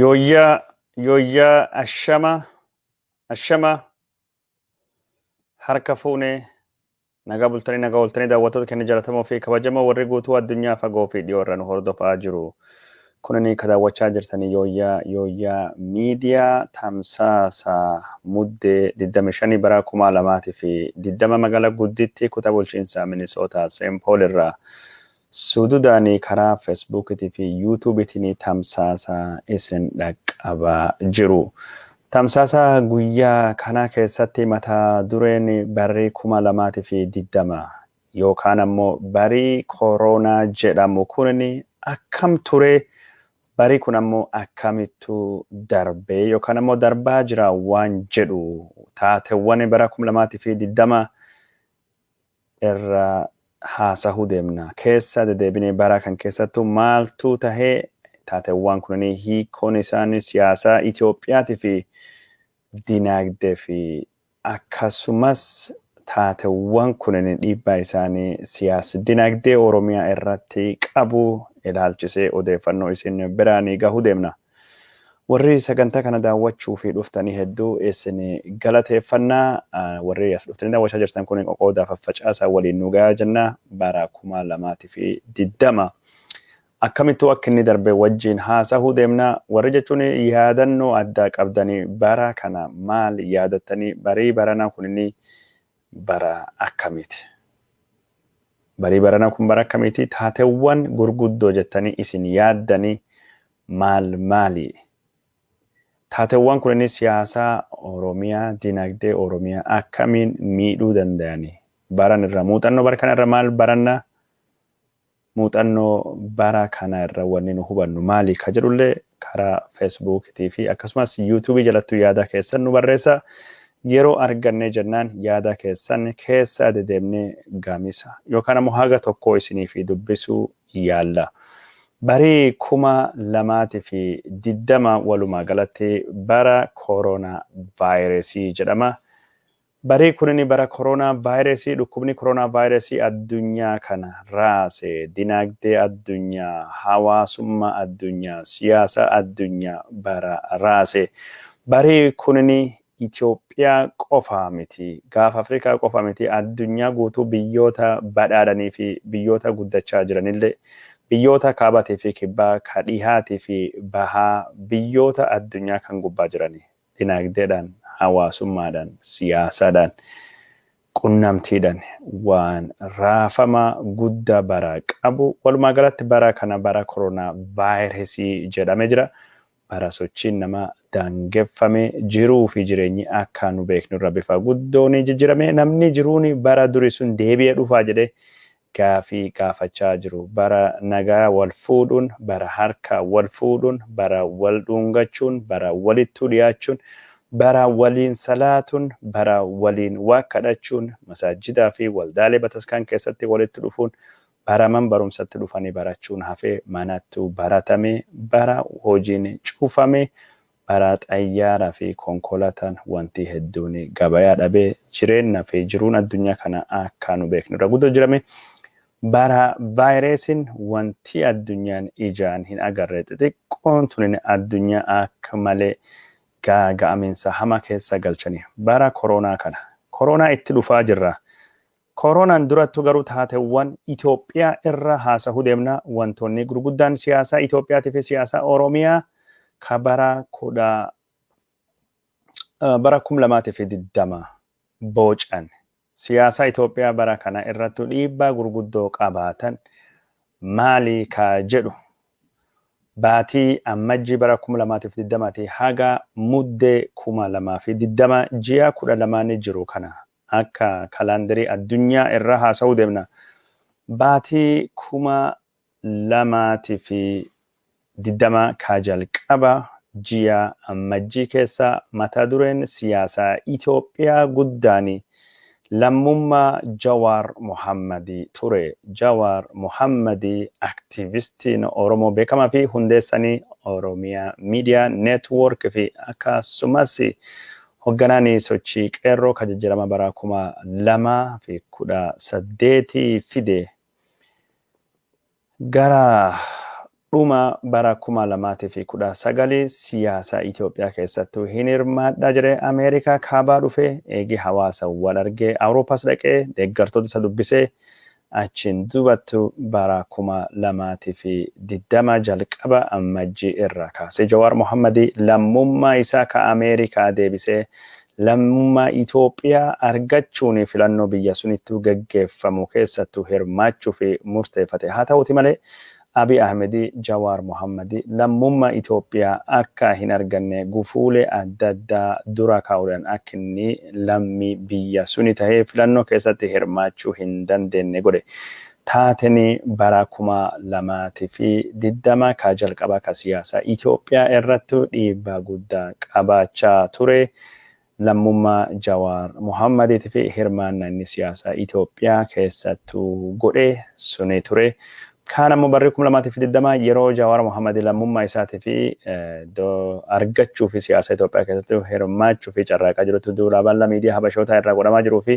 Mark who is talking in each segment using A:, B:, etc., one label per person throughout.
A: Yooyyaa yooyyaa ashama ashama harka fuune nagaa bultanii nagaa ooltanii daawwattoota keenya jalatamoo fi kabajamoo warri guutuu addunyaa fagoo fi dhiyoo irra nu hordofaa jiru. Kunini ka daawwachaa jirtanii yooyyaa yooyyaa miidiyaa tamsaasa muddee 25 bara 2020 magaalaa gudditti kutaa bulchiinsaa Minisootaa Seenpool irraa Sududaanii karaa Fesbuukitii fi Yuutuubitiin tamsaasa isin dhaqqabaa jiru. Tamsaasa guyyaa kanaa keessatti mata dureen Barri 2020 yookaan ammoo Barii Koroonaa jedhamu kun akkam ture, barii kun ammoo akkamittu darbee yookaan ammoo darbaa jira waan jedhu taatewwan bara 2020 irra haasahu deemna. Keessa dedeebinee bara kan keessattu maaltuu tahe taatewwaan kunanii hiikoon isaani siyaasaa Itoophiyaati fi dinaagde fi akkasumas taatewwan kunini dhiibbaa isaani siyaas-dinaagdee Oromiyaa irratti qabu ilaalchisee odeeffannoo isin biraani gahuu deemnaa. Warri sagantaa kana daawwachuu fi dhuftanii hedduu isin galateeffanna. Warri as dhuftanii daawwachaa jirtan kun qoqoodaa faffacaasaa waliin nu gayaa jenna bara 2020 akkamittuu akka inni darbe wajjin haasahuu deemna. Warri jechuun yaadannoo addaa qabdanii bara kana maal yaadattanii barii baranaa kun inni bara akkamiiti? Barii baranaa kun bara akkamiiti? Taatewwan gurguddoo jettanii isin yaaddanii maal maali? Taatewwan kunini siyaasaa Oromiyaa, dinagdee Oromiyaa akkamiin miidhuu dandayani? Baran irra muuxannoo bara kana irra maal baranna? Muuxannoo bara kana irra wanni nu hubannu maali ka jedhullee karaa Facebook tii fi akkasumas YouTube jalattu yaada keessan nu barreessa. Yeroo argannee jennaan yaada keessan keessa dedeemnee gamisa yookaan ammoo haga tokkoo isiniif dubbisuu yaalla. Bari 2020 walumaa galatti bara Corona Virus jedhama. Barii kunini bara koroonaa vaayirasii dhukkubni koroonaa vaayirasii addunyaa kana raase dinaagdee addunyaa, hawaasummaa addunyaa, siyaasa addunyaa bara raase. Barii kunini Itoophiyaa qofa miti, Gaafa Afrikaa qofa miti addunyaa guutuu biyyoota badhaadhanii fi biyyoota guddachaa jiranillee, biyyoota Kaabaatii fi Kibbaa, ka Dhihaatii fi Bahaa, biyyoota addunyaa kan gubbaa jiranii. dinagdeedhaan, hawaasummaadhaan, siyaasaadhaan, qunnamtiidhaan waan raafama guddaa bara qabu walumaa galatti bara kana bara koronaa vaayirasii jedhame jira. Bara sochiin namaa daangeffame jiruu fi jireenyi akka nu beeknu irra bifa guddoon jijjirame namni jiruun bara duri sun deebi'ee dhufaa jedhee gaafii gaafachaa jiru. Bara nagaa wal fuudhuun, bara harka wal fuudhuun, bara wal dhuungachuun, bara walittuu dhiyaachuun, bara waliin salaatuun, bara waliin waaq kadhachuun, masaajjidaa fi waldaalee bataskaan keessatti walitti dhufuun, bara man barumsatti dhufanii barachuun hafee manattuu baratamee, bara hojiin cufamee, Baraa xayyaara fi konkolatan wantii hedduuni gabayaa dhabee jireenna fi jiruun addunyaa kana akkaa nu beeknu irra gudo jirame bara vayireesin wantii addunyaan ijaan hin agarre xixiqqoon tunin addunyaa akk malee gaaga'aminsa hama keessa galchani bara koroonaa kana koroonaa itti dhufaa jirra Koronaan durattu garuu taatewwan Itoophiyaa irra haasahu deemna. Wantoonni gurguddaan siyaasaa Itoophiyaati fi siyaasaa Oromiyaa ka bara 2020 boocan siyaasaa Itoophiyaa bara kana irrattu dhiibbaa gurguddoo qabaatan maali ka jedhu baatii Ammajjii bara 2020 ti haga Muddee 2020 ji'a 12 ni jiru kana akka kalaandarii addunyaa irraa haasa'uu deemna. Baatii 2020 kaa jalqaba ji'a Ammajjii keessa mata dureen siyaasa Itoophiyaa guddaan lammummaa Jawaar Mohammad ture. Jawaar Mohammad aktiivistiin Oromoo beekamaa fi hundeessanii Oromia Media Network fi akkasumas Hogganaan sochii Qeerroo ka jijjirama bara 2018 fide gara dhuma bara 2019 siyaasa Itoophiyaa keessattuu hin hirmaadhaa jedhee Ameerikaa kaabaa dhufee eegii hawaasa wal argee Awurooppaas dhaqee deeggartoota isa dubbisee Achiin duubattu bara 2020 jalqaba Ammajjii irraa kaasee Jawaar Mohammadi lammummaa isaa ka Ameerikaa deebisee lammummaa Itoophiyaa argachuun filannoo biyya sunittuu geggeeffamu keessattu hirmaachuuf murteeffate. Haa ta'uuti malee Abiy Ahmed Jawaar Mohammed lammummaa Itoophiyaa akka hin arganne gufuulee adda addaa dura kaa'uudhaan akka inni lammii biyya suni tahee filannoo keessatti hirmaachuu hin dandeenne godhe. Taateen bara 2020 ka jalqabaa ka siyaasa Itoophiyaa irrattu dhiibbaa guddaa qabaachaa ture lammummaa Jawaar Mohaammadiitiif hirmaannaa inni siyaasa Itoophiyaa keessattuu godhe suni ture. Kaan ammoo barri 2020 yeroo Jawaar Mohaammad lammummaa isaatiif argachuuf siyaasa Itoophiyaa keessatti hirmaachuuf carraaqaa jirutti duula bal'aa miidiyaa Habashootaa irraa godhamaa jiruufi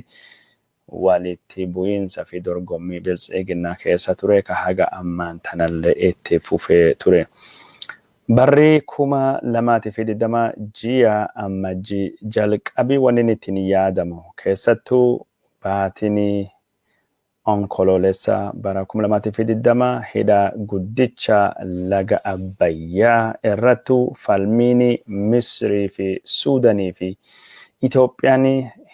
A: Walitti bu'iinsa fi dorgommii Biltsiiginnaa keessa ture ka haga ammaan tanallee itti fufee ture. Barri 2020 ji'a Ammajjii jalqabi wannin ittiin yaadamu keessattuu baatiin Onkoloolessa bara 2020 hidha guddicha laga Abbayyaa irrattuu falmiin Misirii fi Suudanii fi Itoophiyaan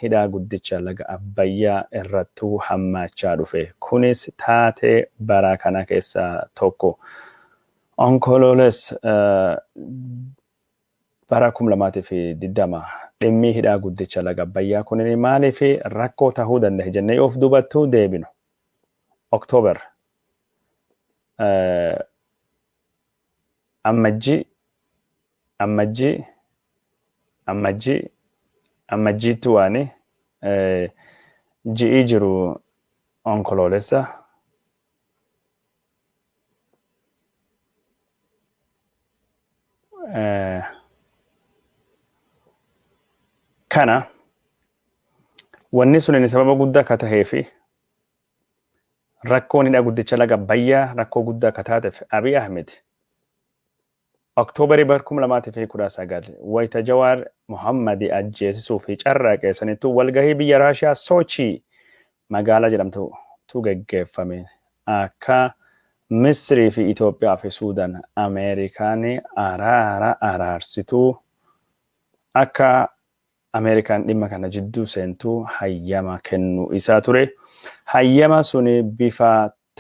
A: hidhaa guddicha laga Abbayyaa irrattuu hammaachaa dhufe. Kunis taatee baraa kana keessaa tokko. Onkolooles bara 2020 dhimmii hidhaa guddicha laga Abbayyaa kunini maaliif rakkoo tahuu dandahe jennee yoo of duubattuu deebinu. Oktoober Ammajji Ammajji Ammajji Ammajjiitti waani ji'ii jiru Onkoloolessa. Kana wanni sun sababa guddaa akka tahee fi Rakkoon hidha guddicha laga Abbayyaa rakkoo guddaa akka taateef Abiy Ahmed Oktoobarii bara 2019 wayita Jawaar Mohammadi ajjeesisuu fi carraaqee sanittuu walgahii biyya Raashiyaa Soochii magaalaa jedhamtutu geggeeffame akka Misirii fi Itoophiyaa fi Suudaan Ameerikaan araara araarsituu akka Ameerikaan dhimma kana jidduu seentu hayyama kennuu isaa ture. Hayyama suni bifa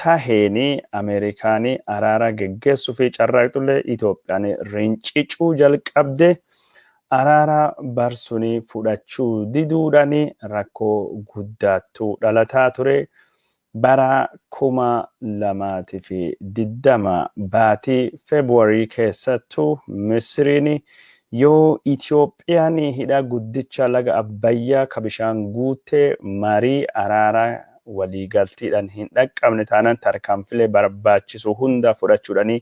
A: taheen Ameerikaan araara geggeessuufi carraaqxullee Itoophiyaan rincicuu jalqabde. Araara bar suni fudhachuu diduudhaan rakkoo guddaattu dhalataa ture. Bara 2020 baatii February keessattu Misiriin yoo Itoophiyaan hidha guddicha laga Abbayyaa ka bishaan guutte marii araaraa waliigaltiidhan hin dhaqqabne taanaan tarkaanfilee barbaachisu hunda fudhachuudhani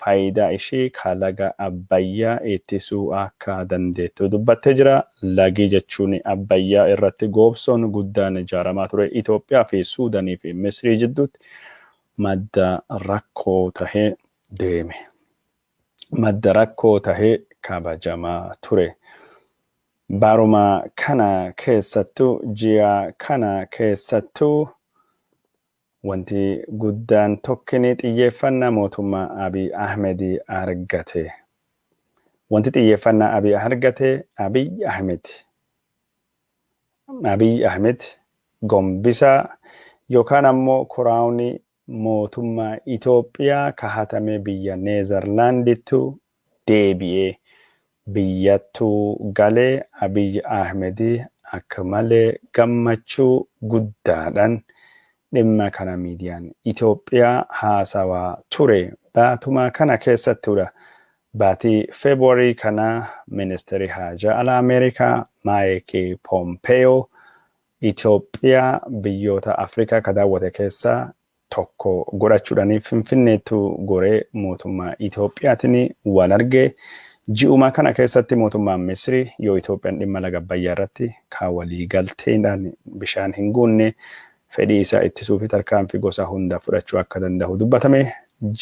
A: faayidaa ishee ka laga Abbayyaa ittisuu akka dandeettu dubbattee jira. Lagi jechuun Abbayyaa irratti goobsoon guddaan ijaaramaa ture Itoophiyaa fi Suudanii fi Misrii jidduutti madda rakkoo tahee deeme. Madda rakkoo tahee kabajamaa ture. Baruma kana keessattuu, ji'a kana keessattuu Wanti guddaan tokkini xiyyeeffannaa mootummaa Abiy Ahmed argate. Wanti xiyyeeffannaa Abiy argate Abiy Ahmed Abiy Ahmed gombisa yookaan ammoo kuraawni mootummaa Itoophiyaa ka hatame biyya Neezarlaandittu deebi'ee biyyattu gale Abiy Ahmed akka malee gammachuu guddaadhan dhimma kana miidiyaan Itoophiyaa haasawaa ture baatuma kana keessattudha. Baatii February kana Ministirri Haajaa Alaa Ameerikaa Mike Pompeo Itoophiyaa biyyoota Afrikaa ka daawwate keessaa tokko godhachuudhaan Finfinneettu goree mootummaa Itoophiyaatiin wal arge. Ji'uma kana keessatti mootummaan Misri yoo Itoophiyaan dhimma laga Abbayyaa irratti kaa walii galteedhaan bishaan hin guunne fedhii isaa ittisuufi tarkaanfii gosa hunda fudhachuu akka danda'u dubbatame.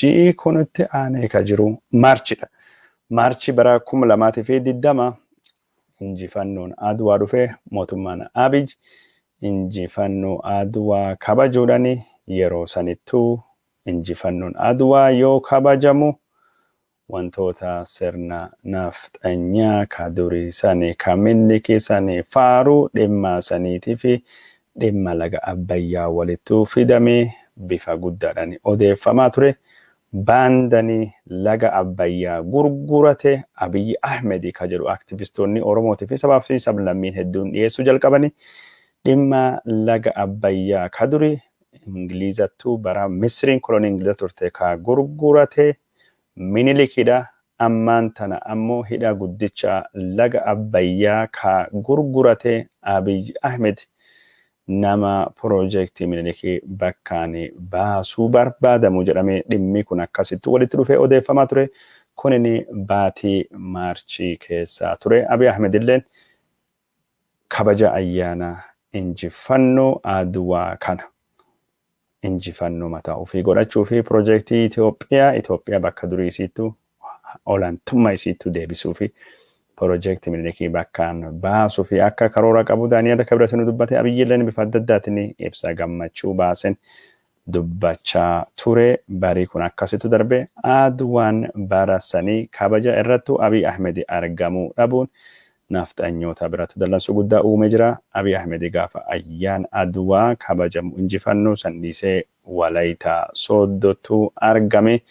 A: Ji'i kun itti aanee ka jiru Maarchidha. Maarchi bara 2020 injifannoon Adwaa dhufe mootummaan Abiy injifannoo Adwaa kabajuudhani yeroo sanittuu injifannoon Adwaa yoo kabajamu wantoota sirna nafxanyaa ka durii sani ka Minliki sani faaruu dhimma saniitifi dhimma laga Abbayyaa walittuu fidamee bifa guddaadhani odeeffamaa ture Baandani laga Abbayyaa gurgurate Abiy Ahmed ka jedhu aktivistoonni Oromootii fi sabaa fi sablammiin hedduun dhiyeessuu jalqabani. Dhimma laga Abbayyaa ka duri Ingilizattu bara Misriin kolonii Ingiliza turte ka gurgurate Minilikidha. Ammaan tana ammoo hidha guddicha laga Abbayyaa ka gurgurate Abiy Ahmed nama Proojektii Minilik bakkaan baasuu barbaadamu jedhamee dhimmi kun akkasitti walitti dhufee odeeffamaa ture. Kunin baatii March keessaa ture. Abiy Ahmed illeen kabaja ayyaana injiffanno Adwaa kana. injifannoo mataa ofii godhachuu fi pirojeektii Itoophiyaa Itoophiyaa bakka durii isiittu olaantummaa isiittu deebisuu fi pirojeektii Minilikii bakkaan baasuu fi akka karoora qabu Daani'eel Kibret nu dubbate Abiyyilleen bifa adda addaatiin ibsa gammachuu baasen dubbachaa ture barii kun akkasitu darbe Adwaan bara sanii kabaja irrattu Abiy Ahmed argamuu dhabuun Nafxanyoota biratti dallansuu guddaa uumee jira. Abiy Ahmed gaafa Ayyaana Adwaa kabajamu injifannoo san dhiisee Walayitaa Sooddottu argame.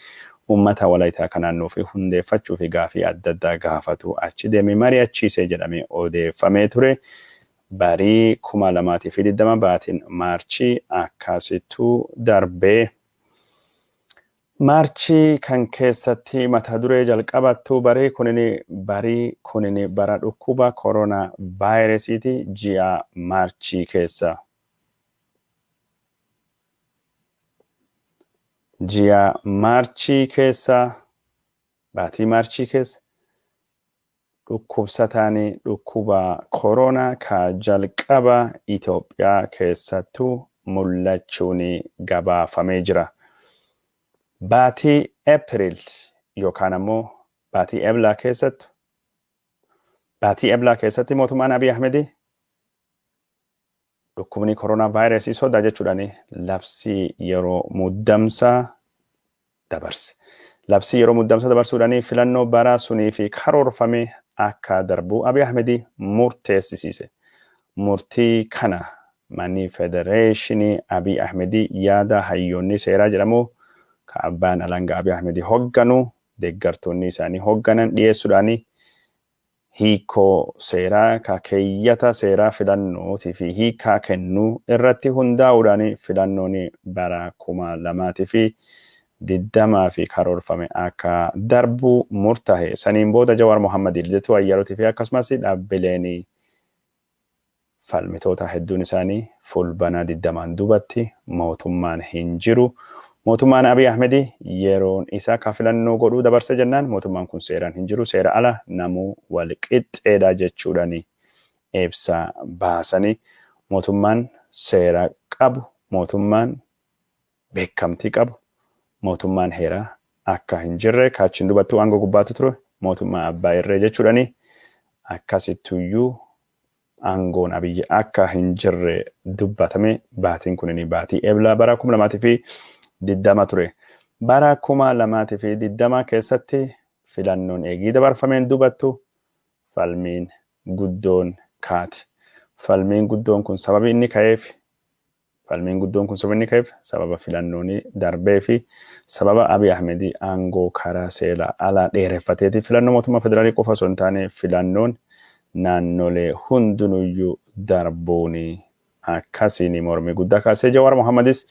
A: Ummata Walayitaa ka naannoo ofii hundeeffachuu fi gaafii adda addaa gaafatu achi deemee mari'achiise jedhamee odeeffamee ture. Barii 2020 baatiin Maarchii akkasittu darbe. March kan keessati mata duree jalqabattu barii kunini barii kunini bara dhukkuba corona virusiti ji'a March keessa ji'a March keessa baatii March keessa Dhukkubsataan dhukkuba koroonaa ka jalqaba Itoophiyaa keessattu mul'achuun gabaafamee jira. Baatii April yookaan ammoo baatii Eblaa keessattu baatii Eblaa keessatti mootummaan Abiy Ahmedii Dhukkubni koronaavaayirasii sodaa jechuudhaan labsii yeroo muddamsaa dabarse. Labsii yeroo muddamsaa dabarsuudhaan filannoo baraa sunii fi karoorfame akka darbuu Abiy Ahmed murteessisiise. Murtii kana manni federeeshinii Abiy Ahmed yaada hayyoonni seeraa jedhamu ka abbaan alangaa Abiy Ahmed hogganu deeggartoonni isaanii hogganan dhiyeessuudhaan hiikkoo seeraa ka keeyyata seeraa filannootii fi hiikkaa kennuu irratti hundaa'uudhaan filannoon bara 2020f karoorfame akka darbu murtahe. Saniin booda Jawaar Mohammad, Lidatuu Ayyaalotii fi akkasumas dhaabbileen Falmitootaa hedduun isaanii Fulbana 20n dubatti mootummaan hin jiru. Mootummaan Abiy Ahmedi yeroon isa ka filannoo godhuu dabarse jennaan mootummaan kun seeraan hin jiru, seera ala namuu wal qixxeedha jechuudhani ibsa baasani. Mootummaan seera qabu, mootummaan beekamtii qabu mootummaan heeraa akka hin jirre kaachiin dubattuu aangoo gubbaatti ture mootummaa abbaa irree jechuudhani akkasittuyyuu aangoon abiyyi akka hin jirre dubbatame baatiin kunini baatii eblaa bara 2020 ture. Bara 2020 keessatti filannoon eegii dabarfameen dubattu falmiin guddoon kaati. Falmiin guddoon kun sababii inni ka'eef Falmiin guddoon kun sababni ka'eef sababa filannooni darbee fi sababa Abiy Ahmed aangoo karaa seela alaa dheereffateeti. Filannoo mootummaa federaalii qofa osoo hin taane filannoon naannolee hundunuyyuu darbuuni akkasiini mormii guddaa kaasee Jawaar Mohammadis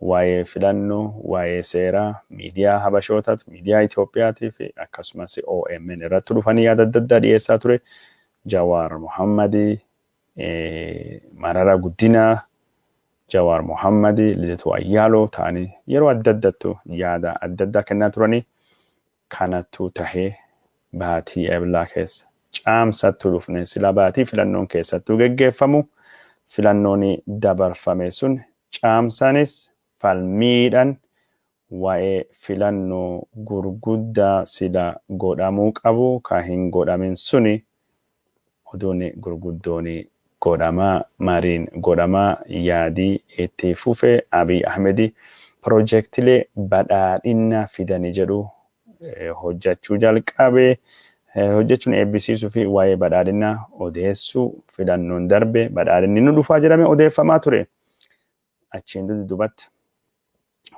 A: waa'ee filannoo, waa'ee seeraa, miidiyaa Habashootat, miidiyaa Itoophiyaati fi akkasumas omn irrattu dhufanii yaada adda addaa dhiyeessaa ture Jawaar Mohammadi. Mararaa Guddinaa, Jawaar Mohammad, Lidatuu Ayyaaloo ta'anii yeroo adda addattu yaada adda addaa kennaa turanii kanattuu tahee baatii Eblaa keessa Caamsattuu dhufne silaa baatii filannoon keessattuu geggeeffamu filannooni dabarfame sun Caamsaanis falmiidhan Wa'e filanno gurgudda sila godhamu qabu ka hin godhamin suni oduni gurguddoni godhama mariin godhama yaadi itti fufe Abiy Ahmedi pirojektilee badhaadhinna fidani jedhu hojjachu jalqabe hojjachun eebbisiisu fi wa'e badhaadhinna odeessu filannon darbe badhaadhinni nu dhufa jedhame odeeffamaa ture achiin dudubatti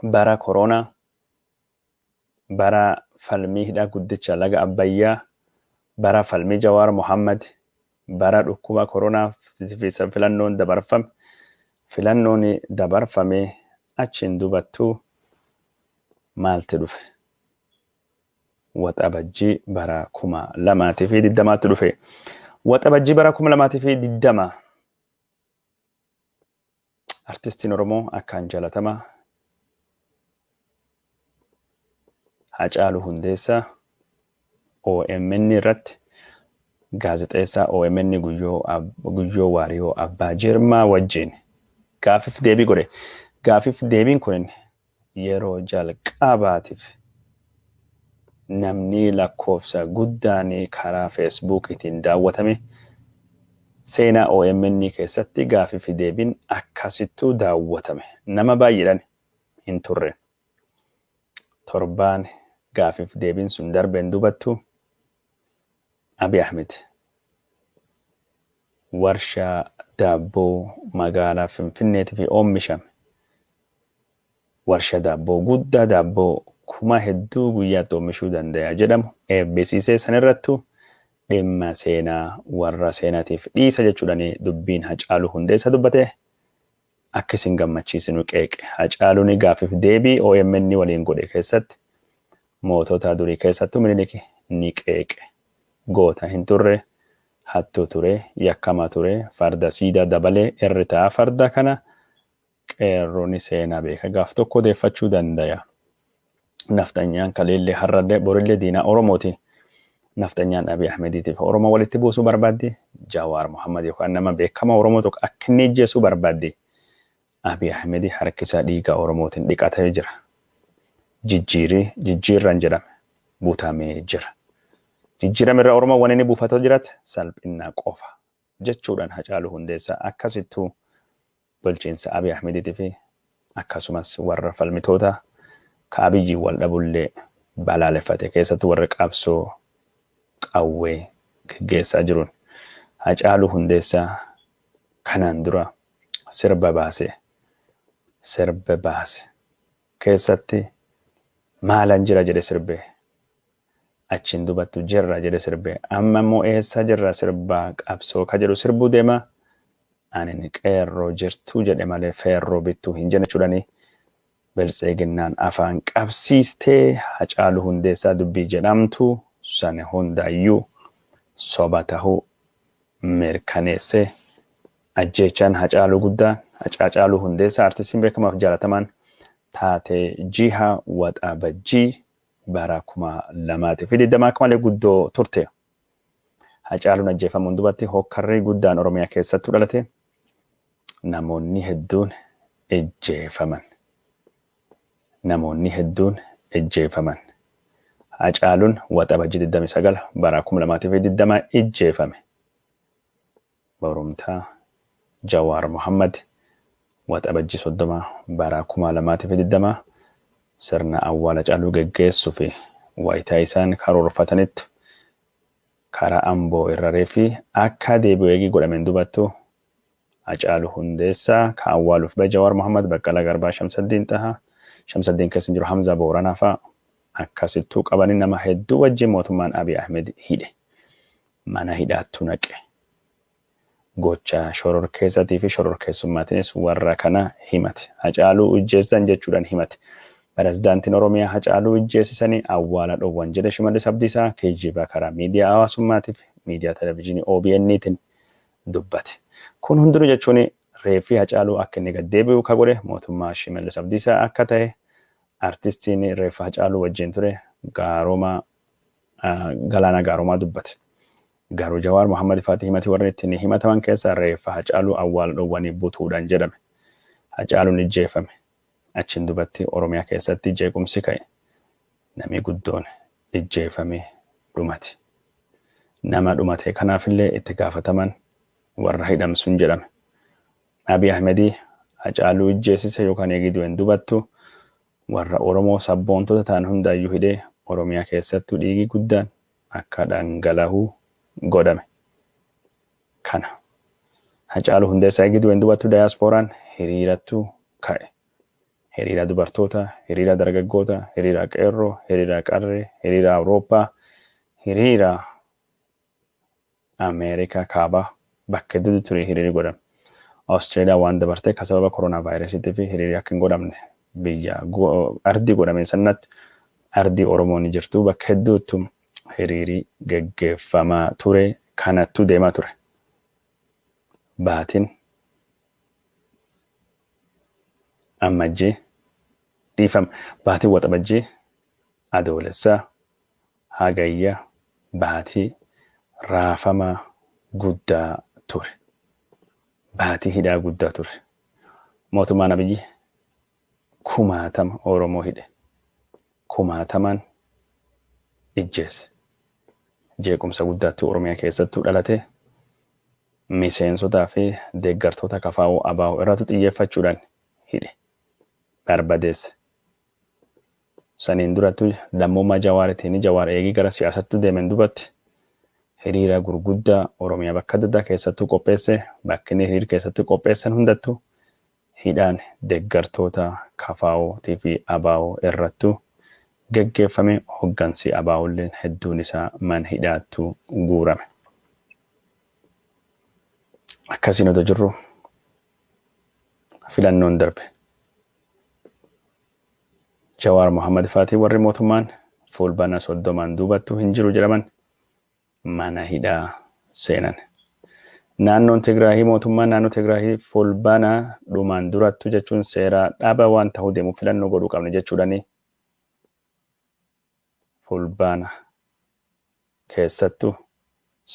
A: bara koroonaa, bara falmii hidha guddicha laga Abbayyaa, bara falmii Jawaar Mohaammad, bara dhukkuba koroonaa fi filannoon dabarfame, filannoon dabarfamee achiin dubattuu maalti dhufe? Waxabajjii bara 2020tti dhufe. Waxabajjii bara 2020 Artistiin Oromoo akkaan jalatama Hacaaluu Hundeessaa omn irratti gaazexeessaa omn Guyyoo Waariyoo Abbaa Jirmaa wajjiin gaafif deebii godhe. Gaafif deebiin kunin yeroo jalqaabaatif namnii lakkoofsa guddaanii karaa Facebook tiin daawwatame seenaa omn keessatti gaafii fi deebiin akkasittuu daawwatame nama baay'eedhan hin turre torbaan gaafif deebiin sun darbeen dubattu Abiy Ahmed warshaa daabboo magaalaa Finfinneetifi oommishame warshaa daabboo guddaa daabboo kuma hedduu guyyaatti oommishuu dandaya jedhamu eebbisiisee sanirrattu dhimma seenaa warra seenatiif dhiisa jechuudhani dubbiin Hacaaluu Hundeessaa dubbate akka isin gammachiisinu qeeqe. Hacaaluun gaaffiif deebii omn waliin godhe keessatti mootota durii keessattuu Minilik ni qeeqe. Goota hin turre, hattuu ture, yakkamaa ture, farda siidaa dabalee irri taa'a farda kana qeerroo ni seenaa beeka gaaf tokko odeeffachuu dandaya. Nafxanyaan kaleellee har'allee borillee diinaa Oromooti. Nafxanyaan Abiy Ahmediitiif Oromoo walitti buusuu barbaaddi. Jawaar Mohammad yookaan nama beekamaa Oromoo tokko akka inni ijjeesuu barbaaddi. Abiy Ahmedi harkisaa dhiigaa Oromootiin dhiqatee jira. Jijjiirii jijjiirran jedhame butamee jira. Jijjiirame irra Oromoo waan inni buufatoo jirat salphinnaa qofa jechuudhaan Hacaaluu Hundeessaa akkasittuu Bulchiinsa Abiy Ahmediitii fi akkasumas warra falmitoota ka Abiyyiin wal dhabullee balaaleffate. Keessattuu warri qabsoo qawwee geggeessaa jiruun Hacaaluu Hundeessaa kanaan dura sirba baase sirba baase keessatti maalan jira jedhe sirbe Achiin dubattu jirra jedhe sirbe. Amma immoo eessa jirra sirba qabsoo ka jedhu sirbuu deema. Anin qeerroo jirtuu jedhe malee feerroo bittuu hin jenne jechuudhani. Biltseeginnaan afaan qabsiistee Hacaaluu Hundeessaa dubbii jedhamtu san hundaayyuu soba tahuu mirkaneesse. Ajjeechaan Hacaaluu guddaan, Hacaacaaluu Hundeessaa artistiin beekamaaf jaalatamaan taatee jiha Waxabajjii bara 2020 akka malee guddoo turte. Hacaaluun ajjeefamuun dubatti hookkarri guddaan Oromiyaa keessattuu dhalate namoonni hedduun ejjeefaman. Namoonni hedduun ejjeefaman. Hacaaluun Waxabajjii 29 bara 2020 ijjeefame. Borumtaa, Jawaar Mohaammad, Waxabajjii 30 bara 2020 sirna awwaala Hacaaluu geggeessuuf wayita isaan karoorfatanitti karaa Amboo irra reeffi akka deebi'u eegii godhameen dubattu Hacaaluu Hundeessaa ka awwaaluuf bahe Jawaar Mohaammad, Baqqalaa Garbaa, Shamsaddiin Xahaa, Shamsaddiin keessa hin jiru, Hamzaa Booranaa fa'a akkasittuu qabanii nama hedduu wajjin mootummaan Abiy Ahmed hidhe. mana hidhaattu naqe. Gocha shororkeessati fi shororkeessummaatinis warra kana himate. Hacaaluu ijjeessan jechuudhan himate. Peresdaantiin Oromiyaa Hacaaluu ijjeesisani awwaala dhowwan jedhe Shimallis Abdiisaa kijjiba karaa miidiyaa hawaasummaati fi miidiyaa televizhinii OBN tin dubbate. Kun hundinu jechuun reeffi Hacaaluu akka inni gad deebi'u ka godhe mootummaa Shimallis Abdiisaa akka tahe artistiin reeffa Hacaaluu wajjiin ture Gaaroomaa Galaanaa Gaaroomaa dubbate. Garuu Jawaar Mohammad faati himati warri ittiin himataman keessaa reeffa Hacaaluu awwaala dhowwanii butuudhan jedhame. Hacaaluun ijjeeffame. Achiin dubatti Oromiyaa keessatti jeequmsi ka'e. Namii guddoon ijjeeffamee dhumate. Nama dhumatee kanaafillee itti gaafataman warra hidhamsun jedhame. Abiy Ahmedii Hacaaluu ijjeessise yookaan eegii du'en dubattu Warra Oromoo sabboontota ta'an hundaayyuu hidhee Oromiyaa keessattuu dhiigi guddaan akka dhangalahu godhame. Kana. Hacaaluu Hundeessaa eegii du'een dubattuu dayaasporaan hiriirattu ka'e. Hiriira dubartootaa, hiriira dargaggootaa, hiriira qeerroo, hiriira qarree, hiriira Awurooppaa, hiriira. Ameerikaa Kaabaa bakka hedduutti ture hiriirri godhame. Australia waan dabartee ka sababa koronaavaayirasiitiif hiriirri akka hin godhamne biyya ardii godhameen sannaatti ardii Oromoo ni jirtu bakka hedduuttu hiriirii geggeeffamaa ture kanattuu deemaa ture. Baatiin Ammajjii dhiifama baatiin Waxabajjii Adoolessaa Hagayya baatii raafama guddaa ture. Baatii hidhaa guddaa ture. Mootummaan Abiyyi kumaatama Oromoo hidhe. Kumaatamaan ijjeesse. Jeequmsa guddaattu Oromiyaa keessattuu dhalate. Miseensotaa fi deeggartoota KFO, ABO irraatu xiyyeeffachuudhaan hidhe. Barbadeesse. Saniin durattu lammummaa Jawaaritiini. Jawaar eegii gara siyaasatti deemeen dubatti hiriira gurguddaa Oromiyaa bakka adda addaa keessattuu qopheesse. Bakki inni hiriir keessatti qopheessan hundattu hidhaan deggartoota kfo tifi abo irrattu geggeeffame. Hoggansi ABOlleen hedduun isaa man hidhaattu guurame. Akkasiin odoo jirru filannoon darbe. Jawaar Mohammed faatii warri mootummaan Fuulbana 30n duubattuu hin jiru jedhaman mana hidhaa seenan. Naannoon Tigraahii mootummaan naannoo Tigraahii Fuulbana dhumaan durattu jechuun seeraa dhaaba waan tahuu deemuuf filannoo godhuu qabna jechuudhani. Fulbaana, keessattuu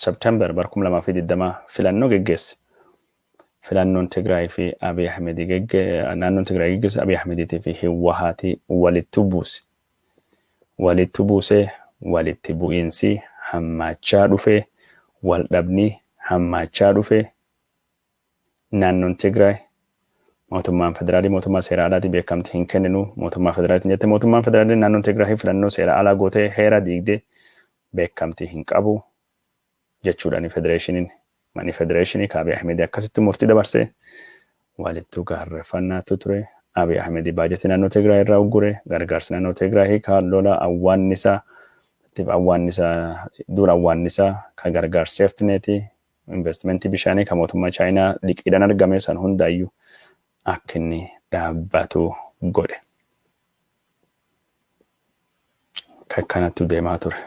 A: September bara 2020 filannoo geggeesse. Filannoon Tigraay fi Abiy Ahmed gegge, naannoon Tigraay geggeesse Abiy Ahmediitii fi Hiwwahaatii walittu buuse. Walittu buusee walitti bu'iinsii hammaachaa dhufee, waldhabnii hammaachaa dhufee, Naannoon Tigraay mootummaan federaalii mootummaa seera alaatii beekamti hin kenninu mootummaa federaaliitiin jette mootummaan federaalii naannoon Tigraay filannoo seera alaa gootee heera diigdee beekamtii hin qabu jechuudhaan federeeshiniin manni federeeshinii ka Abiy Ahmed akkasitti murtii dabarsee walittuu gaarreeffannaatu ture. Abiy Ahmed baajetii naannoo Tigraay irraa uggure gargaarsi naannoo Tigraay hiikaa lola awwaannisaa tiif awwaannisaa duula awwaannisaa ka gargaarsi seeftineetii Investimentii bishaanii kan mootummaa Chaayinaa liqiidhaan argame san hundaayyuu akka inni dhaabbatu godhe. Kan kanattu deemaa ture.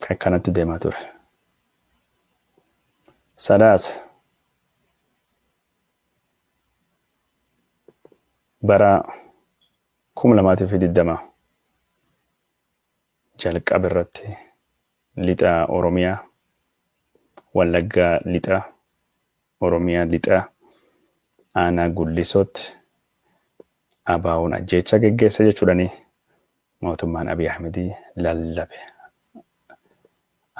A: Kan kanattu deemaa ture. Sadaas bara kuma lamaa fi digdama Jalqaba irratti Lixa Oromiyaa, Wallaggaa Lixaa, Oromiyaa Lixaa, Aanaa Gullisootti ABOn ajjeechaa geggeesse jechuudhani mootummaan Abiy Ahmed lallabe.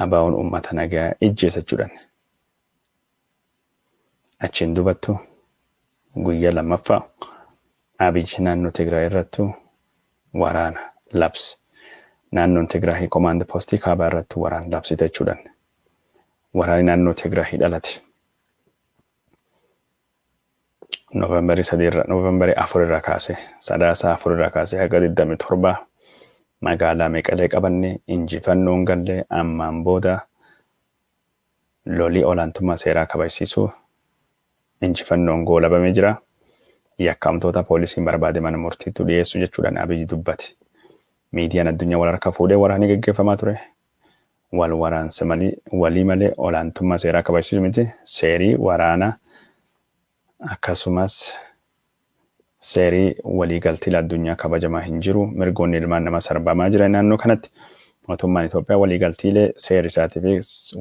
A: ABOn uummata nagaa ijjeesa jechuudhan. Achiin duubattu guyya lammaffa Abiy naannoo Tigraay irrattu waraana labs naannoon Tigraahi komaand postii kaabaa irrattu waraan labsite jechuudhan waraani naannoo Tigraahi dhalate Novemberii sadii irra Novemberii afur irra kaase sadaasa afur irra kaase haga 27 magaalaa Meqalee qabanne injifannoon galle ammaan booda Loli olaantummaa seeraa kabajsiisuu injifannoon goolabamee jira. Yakkamtoota poolisiin barbaade mana murtiittu dhiyeessu jechuudhaan Abiy dubbate. Miidiyaan addunyaa wal harka fuudhee waraanni geggeeffamaa ture. Wal waraansa walii malee olaantummaa seeraa kabajsiisu miti. Seerii waraana Akkasumas, seeri waliigalti idil-addunyaa kabajamaa hin jiru, mirgoonni ilmaan namaa sarbamaa jira naannoo kanatti. Mootummaan Itoophiyaa waliigaltiilee seerri isaatii fi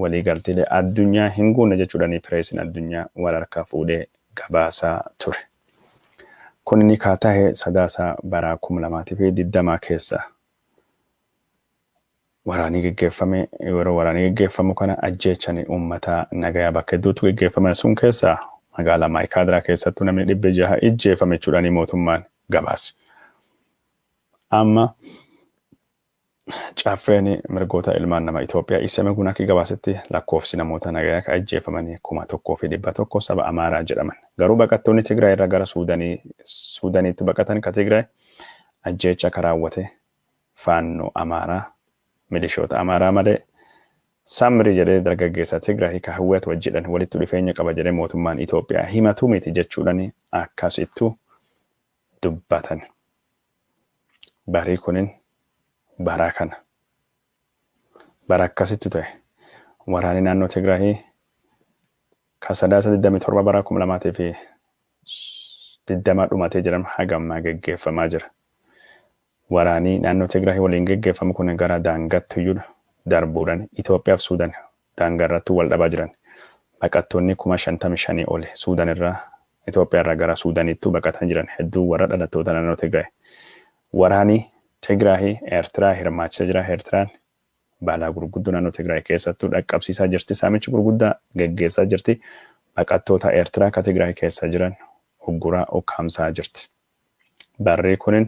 A: waliigaltiilee addunyaa hin guunne jechuudhani pireesiin addunyaa wal harkaa fuudhee gabaasaa ture. Kunini kaa tahe Sadaasa baraa 2020 keessa. Waraanii geggeeffame yeroo waraanii geggeeffamu kana ajjeechani uummata nagayaa bakka hedduuttu geggeeffame sun keessaa magaalaa Maayikaadraa keessattu namni dhibbi jaha ijjeefame judhani mootummaan gabaase. Amma Caffeeni mirgoota ilmaan nama Itoophiyaa Isemegun akki gabaasetti lakkoofsi namoota nagaya ka ijjeefamanii kuma tokkoo fi dhibba tokko saba Amaaraa jedhaman. Garuu baqattoonni Tigraay irra gara Suudanii Suudaniittu baqatan ka Tigraay ajjeecha ka raawwate Faannoo Amaaraa milishoota Amaaraa malee Samri jedhee dargaggeessa Tigraahi ka Hwat wajjidhan walittu dhufeenya qaba jedhee mootummaan Itoophiyaa himatu miti jechuudhani akkasittu dubbatani. Barii kunin bara kana. Bara akkasitti ture. Waraanni naannoo Tigraayi ka Sadaasa 27 bara 2020 dhumatee jedhame haga ammaa geggeeffamaa jira. Waraanii naannoo Tigraayi waliin geggeeffamu kun gara daangaatti iyyuu darbuudhaan Itoophiyaa fi Suudan daangaa irratti wal dhabaa jiran. Baqattoonni kuma 55 oli Suudan irraa, Itoophiyaa irraa gara Suudaniittuu baqatanii jiran hedduun warra dhalattoota naannoo Tigraay. Waraani Tigraahi Eertiraa hirmaachisa jira, Eertiraan balaa gurguddoo naannoo Tigraay keessattuu dhaqqabsiisaa jirti, saamichi gurguddaa geggeessaa jirti, baqattoota Eertiraa ka Tigraay keessa jiran ugguraa, ukkaamsaa jirti. Barrii kunin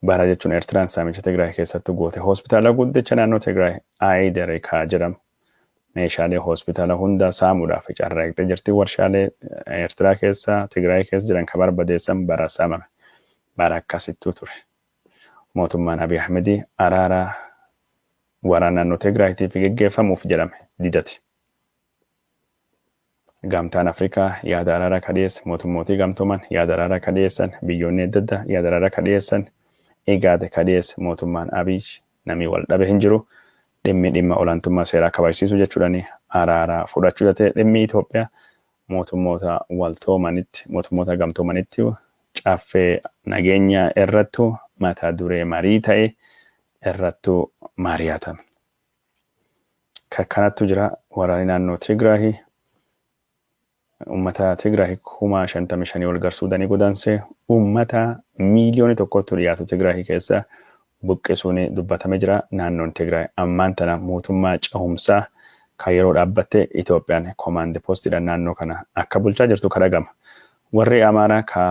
A: bara jechuun Eertiraan saamicha Tigraay keessatti goote hospitaala guddicha naannoo Tigraay Aayidarikaa jedhamu meeshaalee hospitaala hundaa saamuudhaaf carraaqxee jirti. Warshaalee Eertiraa keessa Tigraay keessa jiran ka barbadeessan bara saamame. Bara akkasittuu ture. Mootummaan Abiy Ahmedii araara waraana naannoo Tigraayiitiif geggeeffamuuf jedhame didati. Gamtaan Afrikaa yaada araaraa ka dhiyeesse, Mootummootii Gamtooman yaada araaraa ka dhiyeessan, biyyoonni adda addaa yaada araaraa ka dhiyeessan, IGAD ka dhiyeesse, mootummaan Abiy namii wal dhabe hin jiru, dhimmi dhimma olaantummaa seeraa kabajsiisuu jechuudhaan araara fudhachuu tatee dhimmi Itoophiyaa mootummoota waltoomanitti, mootummoota gamtoomanitti caffee nageenyaa irrattu mata duree marii ta'ee irrattu maariyaatame. Ka kanattu jira waraani naannoo Tigraahi ummata Tigraahi kuma shantamii shanii ol gar Suudanii godaanse ummata miiliyooni tokkottu dhiyaatu Tigraahi keessa buqqisuun dubbatame jira. Naannoon Tigraay ammaan tana mootummaa cehumsaa ka yeroo dhaabbatte Itoophiyaan komaandi postiidhaan naannoo kana akka bulchaa jirtu ka dhagama. Warri Amaaraa ka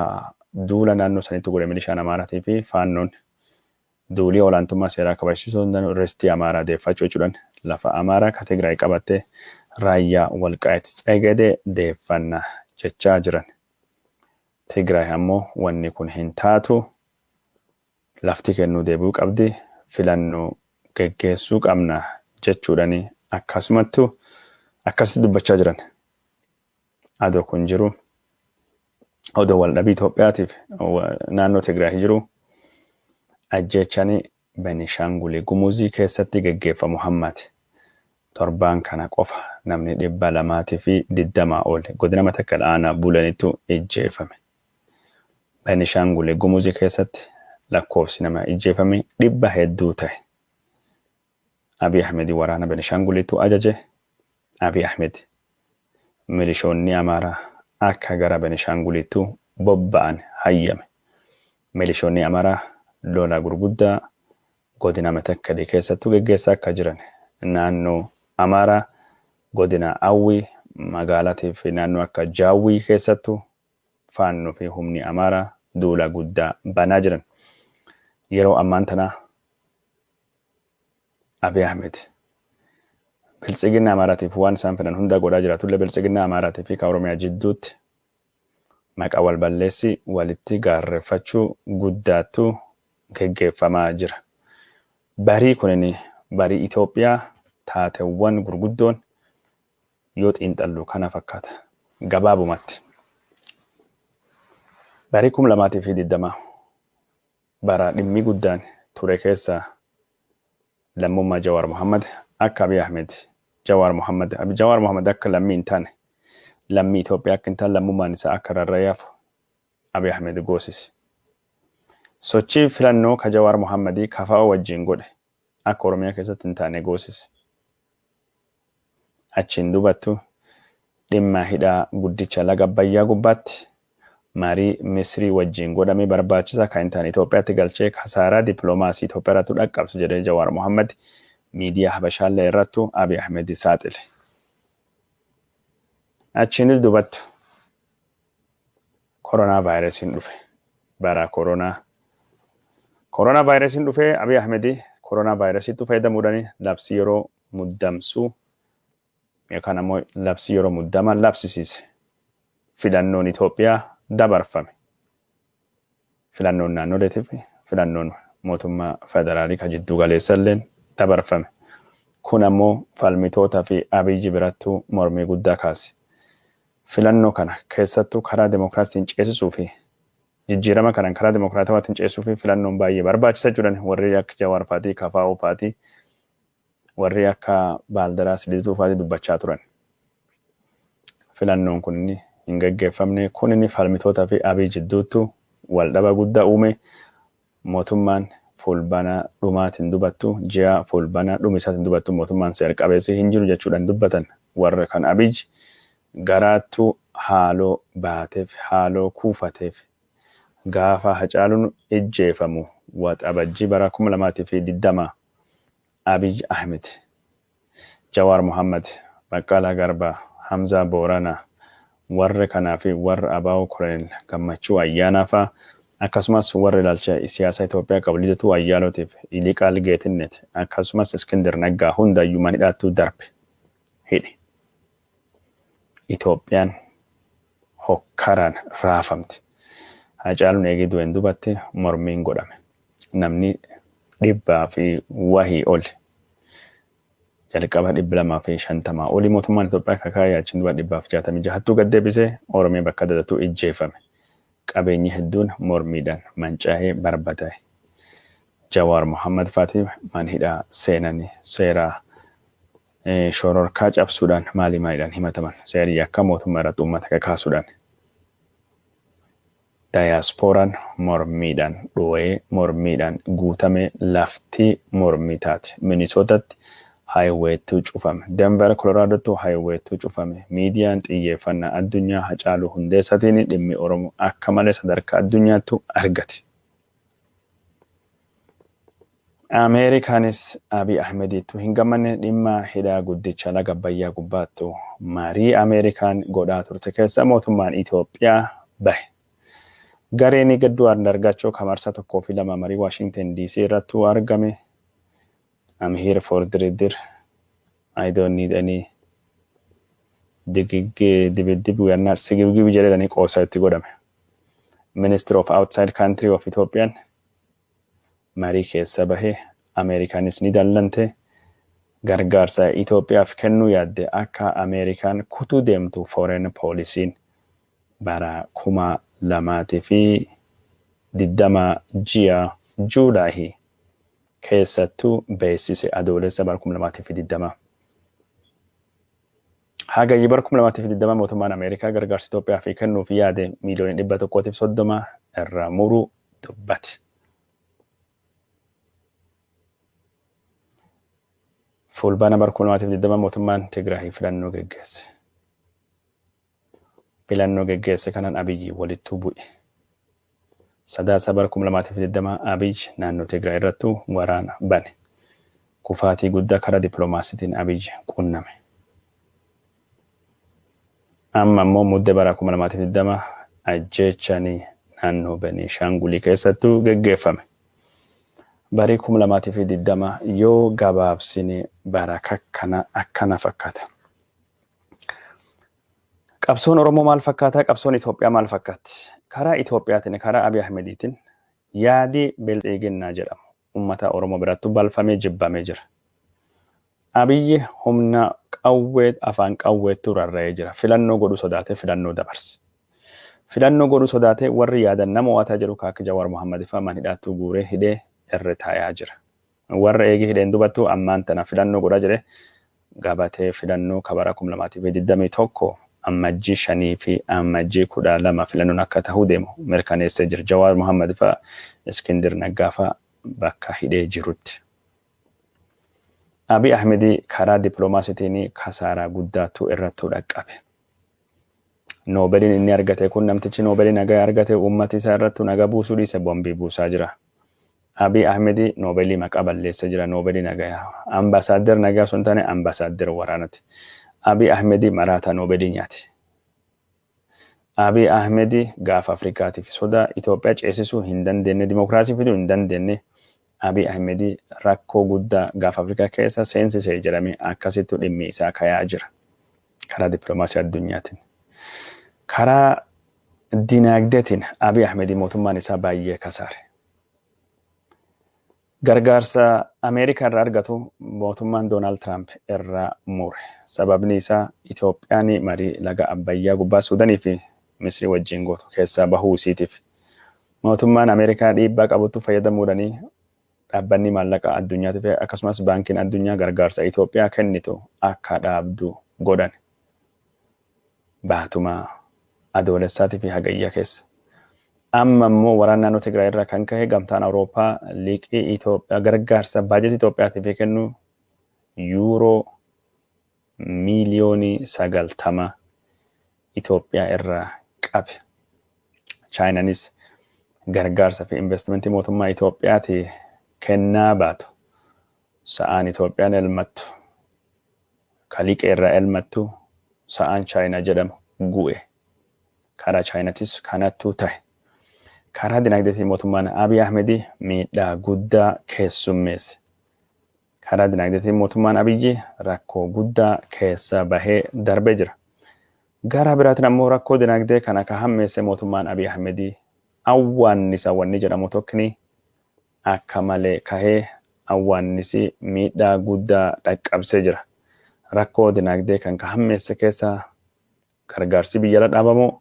A: duula naannoo sanitti godhe milishaan Amaaraatii fi Faannoon Duulii olaantummaa seeraa kabajsiisuu hundanu ristii Amaaraa deeffachuu jechuudhan lafa Amaaraa ka Tigraay qabatte Raayyaa Walqaayit Tsegede deeffanna jechaa jiran. Tigraay ammo wanni kun hin taatu lafti kennuu deebi'uu qabdi filannoo geggeessuu qabna jechuudhani akkasumattu akkasitti dubbachaa jiran. Ado kun jiru odo waldhabii Itoophiyaatiif naannoo Tigraay jiru ajjeechani Benishaanguli Gumuzii keessatti geggeeffamu hammate. Torbaan kana qofa namni 220 ol godina Matakkal aanaa Bulanitu ijjeefame. Benishaanguli Gumuzi keessatti lakkoofsi nama ijjeefame dhibba hedduu tahe. Abiy Ahmedin waraana Benishaangulitu ajaje, Abiy Ahmed milishoonni Amaaraa akka gara Benishaangulitu bobba'an hayyame. Milishoonni Amaaraa lola gurguddaa godina Metakkali keessattu geggeessaa akka jiran naannoo Amaaraa godina Awwii magaalati fi naannoo akka Jaawwii keessattu Faannoo fi humni Amaaraa duula guddaa banaa jiran. Yeroo ammaan tanaa. Abiy Ahmed. Biltsiginna Amaaraatiif waan isaan fedhan hundaa godhaa jiraatullee Biltsiginna Amaaraatii fi ka Oromiyaa jidduutti maqa wal balleessii walitti gaarreffachuu guddaattu geggeeffamaa jira. Barii kunin barii Itoophiyaa taatewwan gurguddoon yoo xiinxallu kana fakkaata. Gabaabumatti. Barii 2020 Bara dhimmi guddaan ture keessa lammummaa Jawaar Mohammed akka Abiy Ahmed Jawaar Mohammed Jawaar Mohammed akka lammii hin taane lammii Itoophiyaa akka hin taane lammummaan isaa akka rarra'ee hafu Abiy Ahmed goosise. Sochii filannoo ka Jawaar Mohammed kafa'oo wajjin godhe akka Oromiyaa keessatti hin taane goosise. Achiin duubattu dhimma hidha guddicha laga Abbayyaa gubbaatti marii Misrii wajjiin godhame barbaachisaa akka hin taane Itoophiyaatti galchee kasaaraa diplomaasii Itoophiyaa irrattu dhaqqabse jedhee Jawaar Mohammed miidiyaa Habashaallee irrattu Abiy Ahmed saaxile. Achiinis duubattu. Koronaa Vaayirasiin dhufe Bara Koronaa Koronaa Vaayirasiin dhufe Abiy Ahmed Koronaa Vaayirasiittu fayyadamuudhaan labsii yeroo muddamsuu yookaan ammoo labsii yeroo muddama labsisiise. Filannoon Itoophiyaa dabarfame. filannoon naannoleetii fi filannoon mootummaa federaalii ka jidduu galeessa illeen dabarfame. Kun ammoo falmitoota fi Abiy birattuu mormii guddaa kaase. Filannoo kana keessattuu karaa demokraastiin ceesisuu fi jijjiirama kanan karaa demokraatawaatiin ceesisuu fi filannoon baay'ee barbaachisa jedhan warri akka Jawaar faatii, KFO faatii Warri akka Baaldaraas Liizuu faati dubbachaa turan. Filannoon kun hin gaggeeffamne. Kunin falmitoota fi Abiy jidduuttu wal dhaba gudda uume. Mootummaan Fuulbana dhumaati hin dubattu, ji'a Fuulbana dhumi isaati hin dubattu mootummaan seer qabeessi hin jiru jechuudhan dubbatan. Warra kan Abiy garaattu haaloo baatef, haaloo kuufatef. Gaafa Hacaalun ijjeefamu Waxabajji bara 2020 Abiy Ahmed, Jawaar Mohammed, Baqqalaa Garbaa, Hamzaa Booranaa, warra kanaa fi warra abo Koloneel Gammachuu Ayyaanaa faa akkasumas warra ilaalcha siyaasa Itoophiyaa qabu Lidatuu Ayyaalootiif Yiliqaal Geetinnet akkasumas Iskindir Naggaa hundayyuu man hidhaattuu darbe hidhe. Itoophiyaan hokkaraan raafamti. Haacaaluun eegii du'een dubatti mormiin godhame. Namni dhibbaa fi wahii oli jalqaba 250 oli mootummaan Itoophiyaa kakaa'ee achiin duba 166ttuu gad deebisee Oromiyaa bakka adda addattuu ijjeeffame. Qabeenyi hedduun mormiidhaan mancaa'ee barbadaa'e. Jawaar Mohammad faati mana hidhaa seenanii seeraa Shororkaa cabsuudhaan maalii maaliidhaan himataman? Seerri yakkaa mootummaa irratti uummata kakaasuudhaan Dayaaspooraan mormiidhaan dhoo'ee, mormiidhaan guutame, lafti mormii taate. Minisootatti Haayiweettuu cufame. Denver Koloraadoottuu Haayiweettuu cufame. Miidiyaan xiyyeeffannaa addunyaa Hacaaluu Hundeessatiin dhimmi Oromoo akka malee sadarkaa addunyaattuu argate. Ameerikaanis Abiy Ahmediittu hin gammanne dhimma hidha guddicha laga Abbayyaa gubbaattu marii Ameerikaan godhaa turte keessa mootummaan Itoophiyaa bahe. Gareen Gadduu Andargaachoo ka marsaa tokkoo fi lama marii Waashingten DC irrattu argame I'm here for diridir I don't need any digig dibiddib we are not sigibgibi jedhedhanii qoosa itti godhame. Minister of Outside Country of Ethiopian marii keessa bahe, Ameerikaanis ni dallante. Gargaarsa Itoophiyaaf kennuu yaadde akka Ameerikaan kutuu deemtu Foreign Policy'n bara 2020 ji'a July keessattu beeksise, Adoolessa bara 2020. Hagayya bara 2020 mootummaan Ameerikaa gargaarsa Itoophiyaaf kennuuf yaade miiliyoonii 130 irraa muruu dubbate. Fulbaana bara 2020 mootummaan Tigraay filannoo geggeesse. Filannoo geggeesse kanaan Abiyyi walittuu bu'e. Sadaasa bara 2020 Abiy naannoo Tigraay irrattu waraana bane. Kufaatii guddaa karaa dippiloomaasiitiin Abiy qunname. Amma immoo mudde bara 2020 ajjeechani naannoo Beniishaangulii keessattu geggeeffame. Barii 2020 yoo gabaabsine bara kakkana akkana fakkata. Qabsoon Oromoo maal fakkaataa? Qabsoon Itoophiyaa maal fakkaatti? Karaa Itoophiyaatiin, karaa Abiy Ahmediitiin yaadi bilxiiginnaa jedhamu ummata Oromoo birattu balfamee jibbamee jira. Abiyyi humna qawwee afaan qawweettuu rarra'ee jira. Filannoo godhuu sodaatee filannoo dabarse. Filannoo godhuu sodaatee warri yaadan nama mo'ataa jiru ka akka Jawaar Mohammad fa'aa man hidhaattuu guuree hidhee irra taayaa jira. Warra eegi hidheen dubattu ammaan tana filannoo godhaa jire. Gabatee filannoo ka bara 2021 Ammajjii 5 fi Ammajjii 12 filannoon akka tahuu deemu mirkaneessee jira. Jawaar Mohammed fa'a, Iskindir Naggaa fa'a bakka hidhee jirutti. Abiy Ahmedii karaa diplomaasitiin kasaaraa guddaattu irrattuu dhaqqabe. Noobeliin inni argate kun namtichi Noobelii nagaa argate uummati isaa irrattu nagaa buusuu dhiise bombii buusaa jira. Abiy Ahmedi Noobelii maqaa balleesse jira Noobelii nagayaa. Ambassador nagaa osoo hin taane ambassador waraanati. Abiy Ahmedi maraataa Noobelii nyaati. Abiy Ahmedi gaafa Afrikaatiif sodaa Itoophiyaa ceesisuu hin dandeenne dimokiraasii fiduu hin dandeenne Abiy Ahmed rakkoo guddaa Gaafa Afrikaa keessa seensise jedhamee akkasittu dhimmi isaa kayaa jira. Karaa diplomaasii addunyaatin. Karaa dinaagdeetin Abiy Ahmed mootummaan isaa baay'ee kasaare. Gargaarsa Ameerikaa irraa argatu mootummaan Doonaald Tiraamp irraa mure. Sababni isaa Itoophiyaan marii laga Abbayyaa gubbaa Suudanii fi Misrii wajjiin gootu keessaa bahuu isiitiif mootummaan Ameerikaa dhiibbaa qabutti fayyadamuudhaan Dhaabbanni Maallaqaa Addunyaatiif akkasumas Baankiin Addunyaa gargaarsa Itoophiyaa kennitu akka dhaabdu godhan. Baatuma Adoolessaatii fi Hagayya keessa. Amma immoo waraana naannoo Tigraay irraa kan ka'e Gamtaan Awurooppaa liqii Itoophiyaa gargaarsa baajetii Itoophiyaatiif kennu yuuroo miiliyoonii sagaltama Itoophiyaa irraa qabe. Chaayinanis gargaarsa fi investimentii mootummaa Itoophiyaati kennaa baatu. Sa'aan Itoophiyaan elmattu ka liqee irraa elmattu sa'aan Chaayinaa jedhamu gu'e. Karaa Chaayinatis kanattu tahe. Karaa dinagdeetiin mootummaan Abiy Ahmedi miidhaa guddaa keessummeesse. Karaa dinagdeetiin mootummaan Abiyyi rakkoo guddaa keessa bahee darbee jira. Garaa biraatiin ammoo rakkoo dinagdee kana ka hammeesse mootummaan Abiy Ahmedii awwaannisa wanni jedhamu tokkni akka malee kahee awwaannisi miidhaa guddaa dhaqqabsee jira. Rakkoo dinagdee kan ka hammeesse keessa gargaarsi biyyala dhaabamuu,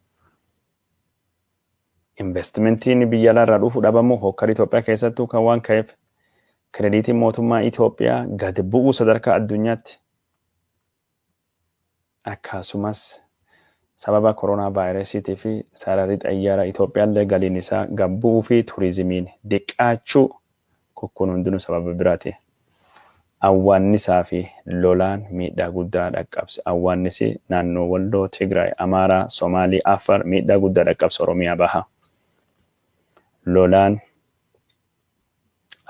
A: Inveestimentiin biyya alaarraa dhufu dhabamuu hookkarri Itoophiyaa keessattuu kan waan ka'eef kirediitiin mootummaa Itoophiyaa gad bu'uu sadarkaa addunyaatti akkasumas sababa koronaa vaayirasiitii fi sararri xayyaaraa Itoophiyaallee galiin isaa gad bu'uu fi turizimiin diqqaachuu Kukkuun hundinuu sababa biraatiin awwaannisaa fi lolaan miidhaa guddaa dhaqqabse. Awwaannisi naannoo Walloo, Tigraay, Amaaraa, Somaalii, Affaar miidhaa guddaa dhaqqabse Oromiyaa Bahaa. Lolaan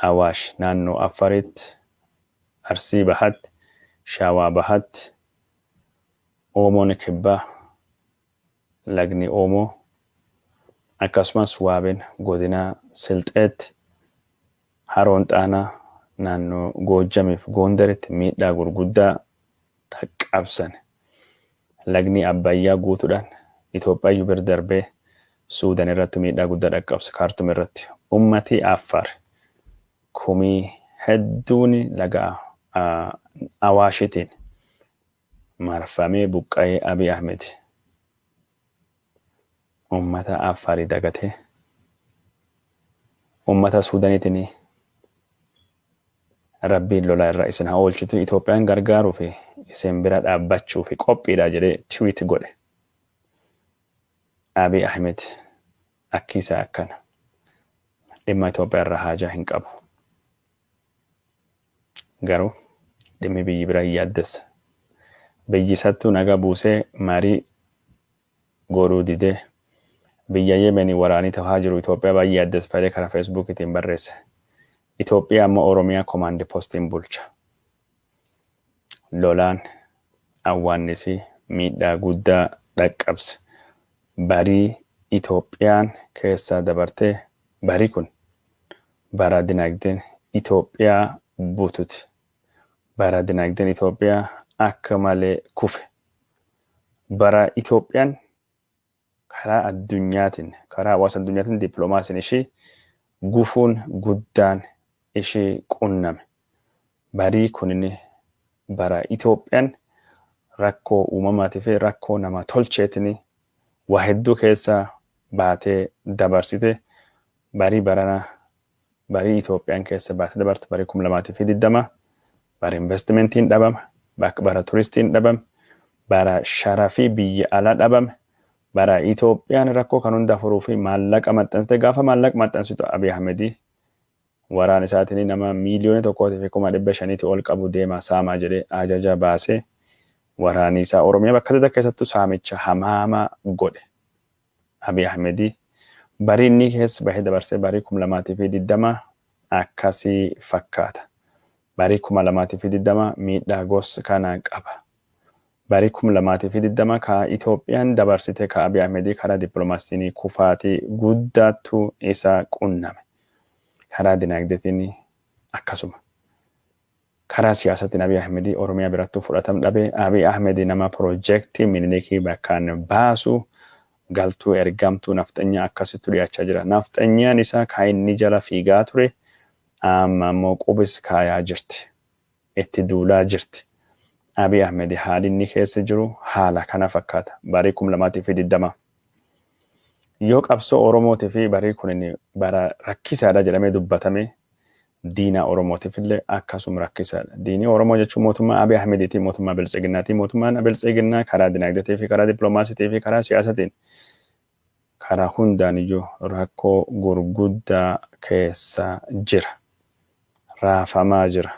A: Awaash naannoo Affaritti, Arsii Bahatti, Shawaa Bahatti, Oomoon Kibbaa, Lagni Oomoo akkasumas Waabeen Godina Silxeetti, Haroon Xaanaa naannoo Goojjamiif Goondaritti miidhaa gurguddaa dhaqqabsan. Lagni Abbayyaa guutuudhaan Itoophiyaayyu bir darbee Suudan irrattu miidhaa guddaa dhaqqabse Kaartum irratti. Ummatii Affaar kumii hedduuni laga Awaashitiin marfamee buqqa'ee Abiy Ahmed ummata Affaari dagatee ummata Suudanitini Rabbiin lola irra isin ha oolchuti Itoophiyaan gargaaruufi isin bira dhaabbachuufi qophiidha jedhee tweet godhe Abiy Ahmed akki isaa akkana dhimma Itoophiyaa irraa haajaa hin qabu. Garuu dhimmi biyyi bira hin yaaddessa. Biyyi isattuu nagaa buusee marii goodhuu didee biyya Yemeni waraanii tahaa jiru Itoophiyaa baay'ee yaaddesfadee kara Feesbuukitiin barreesse. Itoophiyaa amma Oromiyaa komaandi postiin bulcha. Lolaan awwaannisi miidhaa guddaa dhaqqabse barii Itoophiyaan keessa dabarte bari kun bara dinagdeen Itoophiyaa bututi, bara dinagdeen Itoophiyaa akka malee kufe, bara Itoophiyaan karaa addunyaatiin, karaa hawaasa addunyaatiin diplomaasiin ishii gufuun guddaan ishii qunname. Barii kunin bara Itoophiyaan rakkoo uumamaatii fi rakkoo nama tolcheetiin waa hedduu keessa baatee dabarsite, barii baranaa Barii Itoophiyaan keessa baate dabartu barii 2020 bara investimentiin dhabame, bak bara turistiin dhabame, bara sharafi biyya ala dhabame, bara Itoophiyaan rakkoo kan hunda furuufi maallaqa maxxansite gaafa maallaq maxxansitu Abiy Ahmedi waraan isaatini nama miiliyoona tokkootifi kuma dhibba shaniiti ol qabu deemaa saamaa jedhee ajaja baase waraanii isaa Oromiyaa bakka adda addaa keessattu saamicha hamaama godhe. Abiy Ahmed barii innii keessa bahee dabarsee barii 2020 akkasi fakkaata. Barii 2020 miidhaa gos kana qaba. Barii 2020 ka Itoophiyaan dabarsite ka Abiy Ahmed karaa diplomaasitiin kufaatii guddaattu isa qunname. Karaa dinaagdetiin akkasuma. Karaa siyaasatiin Abiy Ahmed Oromiyaa birattuu fudhatam dhabe. Abiy Ahmed nama pirojektii Minilikii bakkaan baasu, galtuu ergamtuu nafxanyaa akkasittu dhiyaachaa jira. Nafxanyaan isaa ka inni jala fiigaa ture amma ammoo qubis kaayaa jirti. Itti duulaa jirti. Abiy Ahmed haali inni keessa jiru haala kana fakkaata. Barii 2020 yoo qabsoo Oromootifi barii kunin bara rakkisaadha jedhamee dubbatame Diina Oromootifillee akkasum rakkisaadha. Diinii Oromoo jechuun mootummaa Abiy Ahmediitii, mootummaa Biltsiginnaatii. Mootummaan Biltsiginnaa karaa dinagdeetiifi karaa dippilomaasitiifi karaa siyaasatiin karaa hundaaniyyuu rakkoo gurguddaa keessa jira. Raafamaa jira.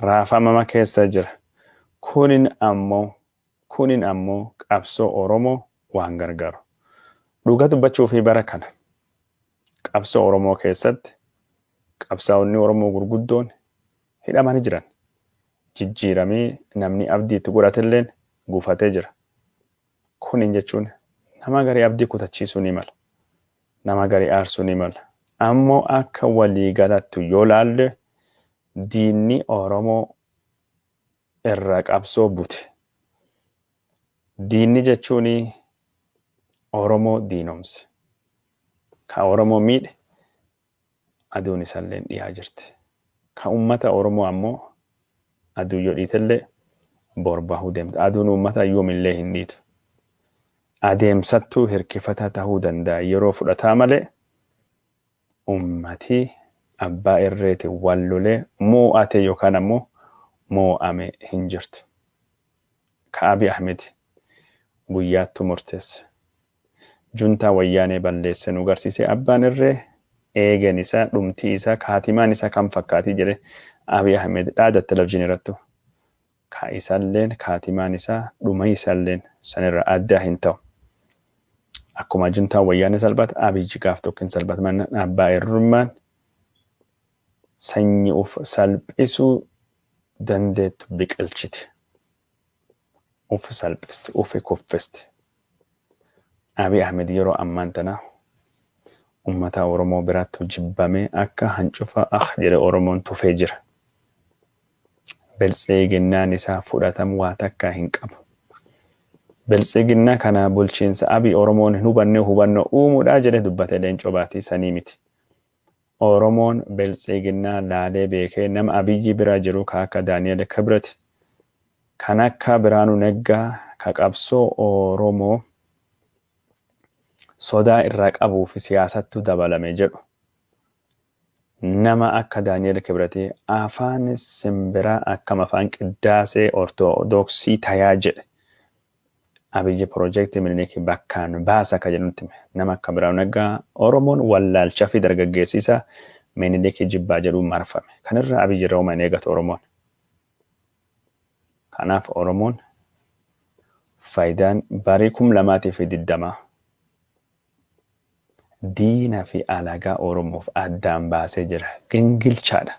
A: Raafamama keessa jira. Kunin ammoo kunin ammoo qabsoo Oromoo waan gargaaru. Dhugaa dubbachuufii bara kana Qabsoo Oromoo keessatti qabsaa'onni Oromoo gurguddoon hidhamani jiran. Jijjiiramii namnii abdii itti godhatelleen gufatee jira. Kuniin jechuun nama garii abdii kutachiisuu ni mala. Nama garii aarsuu ni mala. Ammoo akka walii galattu yoo laalle diinni Oromoo irra qabsoo bute. Diinni jechuun Oromoo diinomse. Ka Oromoo miidhe aduun isalleen dhiyaa jirti. Ka ummata Oromoo ammoo aduun yo dhiitellee bor bahuu deemti. Aduun ummataa yoomillee hin dhiitu. Adeemsattuu hirkifataa tahuu danda'a yeroo fudhataa malee ummati abbaa irreetiin wal lolee moo'ate yookaan ammoo moo'ame hin jirtu. Ka Abiy Ahmed guyyaattuu murteesse juntaa wayyaanee balleesse nu garsiisee abbaan irree eegen isaa dhumtii isaa kaatimaan isaa kam fakkaatii jedhe Abiy Ahmed dhaada televizhin irrattu ka isalleen kaatimaan isaa dhuma isalleen sanirra addaa hin ta'u akkuma juntaa wayyaanee salphat Abiy gaaf tokko hin salphat mannaan abbaa irrummaan sanyi uf salphisuu dandeettu biqilchiti Uff salphiste uffi kuffiste. Abiy Ahmed yeroo ammaan tana ummataa Oromoo biraattu jibbamee akka hancufaa akh jedhe Oromoon tufee jira. Biltsiginnaan isaa fudhatam waa takkaa hin qabu. Biltsiginnaa kana bulchiinsa Abiy Oromoon hin hubannee hubannoo uumuudhaa jedhe dubbate Leencoo Baatii sanii miti. Oromoon biltsiiginnaa laalee beekee nama Abiyyi bira jiru ka akka Daniel Kibret, kan akka Biraanuu Neggaa ka qabsoo Oromoo sodaa irraa qabuu fi siyaasattu dabalame jedhu. Nama akka Daniel Kibret afaan simbiraa akkam afaan qiddaasee ortodoksii tayaa jedhe. Abiyyi Pirojektii Miniliki bakkaan baasa akka jedhu nutti hime. Nama akka Birhaanu Naggaa Oromoon wallaalcha fi dargaggeessi isaa Miniliki jibbaa jedhuun marfame. Kana irraa Abiyyi irraa homa hin eegatu Oromoon. Kanaaf Oromoon faayidaan barii 2020 Diina fi alagaa Oromoof addaan baasee jira. Gingilchaa dha.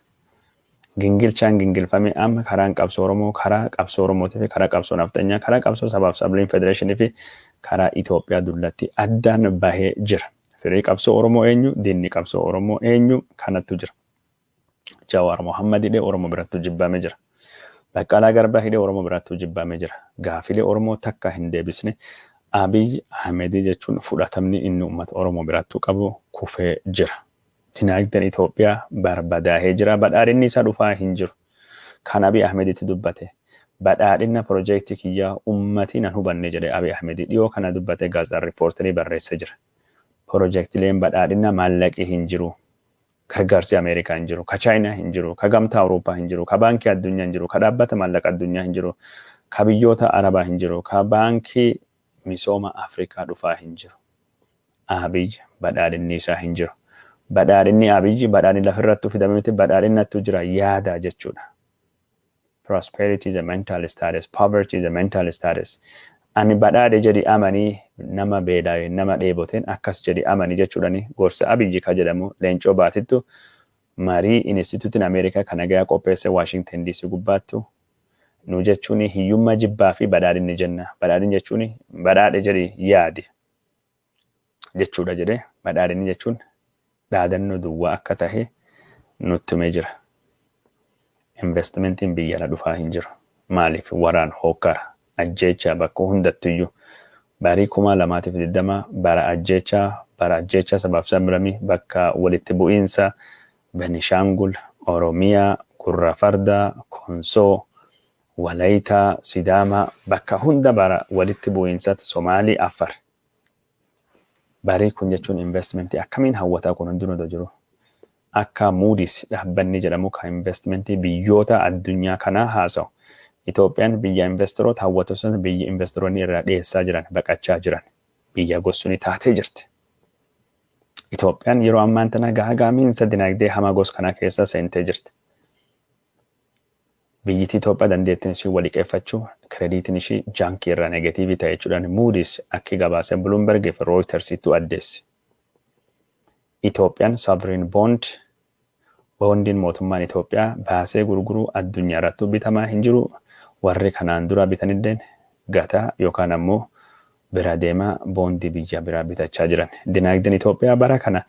A: Gingilchaan gingilfamee amma karaan qabsoo Oromoo, karaa qabsoo Oromootii fi karaa qabsoo Nafxanyaa, karaa qabsoo Sabaaf Sabliin Federeeshinii fi karaa Itoophiyaa dullattii addaan bahee jira. Firii qabsoo Oromoo eenyu? Diinni qabsoo Oromoo eenyu? Kanattu jira. Jawaar Mohammed hidhee Oromo birattu jibbaame jira. Baqqalaa Garbaa hidhee Oromo birattu jibbaame jira. Gaafilee Oromoo takka hin deebisne Abiy Ahmedii jechuun fudhatamni inni uummata Oromo birattu qabu kufee jira. Dinaagden Itoophiyaa barbadaahee jira. Badhaadhinni isaa dhufaa hin jiru. Kan Abiy Ahmeditti dubbate Badhaadhinna project kiyya uummati nan hubanne jedhe Abiy Ahmedi dhiyoo kana dubbate Gaazexaan Reporterii barreesse jira. Projectileen Badhaadhinna maallaqi hin jiru. Gargaarsi Ameerikaa hin jiru, ka Chaayinaa hin jiru, ka Gamtaa Awurooppaa hin jiru, ka Baankii Addunyaa hin jiru, ka Dhaabbata Maallaqa Addunyaa hin jiru, ka biyyoota Arabaa hin jiru, ka Baankii Misooma Afrikaa dhufaa hin jiru. Abiy badhaadhinni isaa hin jiru. Badhaadhinni Abiy badhaadhinni lafa irrattuu fidame miti, badhaadhinnattuu jira yaada jechuudha. Prosperity is a mental status, poverty is a mental status. Ani badhaadhe jedhi amani nama beelaawe nama dheeboteen akkas jedhi amani jechuudhani gorsa Abiyyi ka jedhamu Leencoo Baatittu marii Inistituutin Ameerikaa ka nagayaa qopheesse Washington DC gubbaattu nu jechuun hiyyummaa jibbaa fi badhaadhinni jenna. Badhaadhin jechuun badhaadhe jedhi yaadi. jechuudha jedhee badhaadhinni jechuun dhaadannoo duwwaa akka tahe nutti himee jira. Investimentiin biyya ala dhufaa hin jiru. Maaliif waraan hookkara ajjeechaa bakka hundattiyyuu barii kumaa lamaatiif digdama bara ajjeechaa bara ajjeechaa sabaaf sablamii bakka walitti bu'iinsa Benishaangul, Oromiyaa, Gurra Fardaa, Konsoo, Walayitaa, Sidaamaa bakka hunda bara walitti bu'iinsaatti Somaalii, Affar. Barii kun jechuun investmentii akkamiin hawwataa kun hundinuu dha jiru. Akka Moody's dhaabbanni jedhamu kan investmentii biyyoota addunyaa kanaa haasa'u. Itoophiyaan biyya investeroota hawwatu sun biyya investeroonni irraa dheessaa jiran, baqachaa jiran biyya gossuni taatee jirti. Itoophiyaan yeroo ammaan tana gaagaamiinsa dinagdee hamaa gos kanaa keessa seentee jirti. Biyyiti Itoophiyaa dandeettin isii wa liqeeffachu, krediitin ishii janki irraa negetiivi ta'e jechuudhan Moody's akki gabaase Bloomberg fi Reuters ittu addeesse. Itoophiyan Sovereign Bond, Boondiin mootummaan Itoophiyaa baasee gurguru addunyaa irrattu bitamaa hin jiru, warri kanaan duraa bitanilleen gataa yookaan ammo bira deemaa boondii biyya biraa bitachaa jiran. Dinaagden Itoophiyaa bara kana